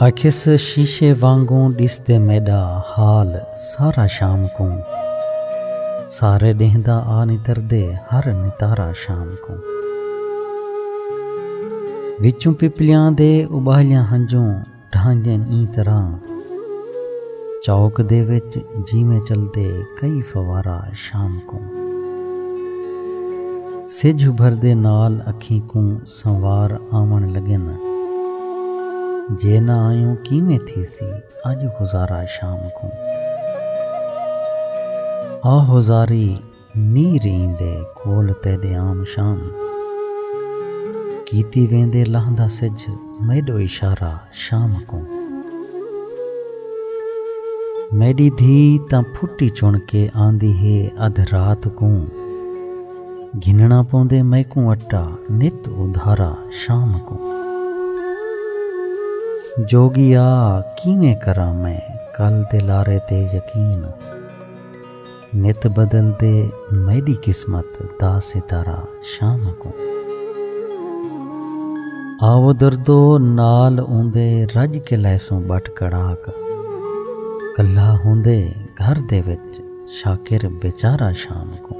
آکھیس شیشے وانگوں ڈس دے میڈا حال سارا شام کوں سارے ڈینہ دا آ نتر دے ہر نتارا شام کوں وچوں پپلیاں دے ابالیاں ہنجوں ڈھانجن ایں طرح چوک دے وچ جیویں چلدے کئی فوارہ شام کوں سجھ ابھردے نال اکھیں کوں سنوار آوݨ لگن جے نہ آیوں کیویں تھیسی اڄ گزارا شام کوں آہوزاری نی رہیندے کول تیڈے عام شام۔ کیتی ویندے لہندا سجھ میڈو اشارہ شام کوں۔ میڈی دھی تاں پھٹی چن کے آندی ہے ادھ رات کوں۔ گھننا پوندے میکوں اٹا نت ادھارا شام کوں۔ جوگیا کیویں کراں میں کل دے لارے تے یقین۔ نت بدل دے میڈی قسمت دا ستارہ شام کوں آو دردو نال اوندے رج کے لیسوں بٹ کڑاک کلا ہوندے گھر دے وچ شاکر بیچارہ شام کوں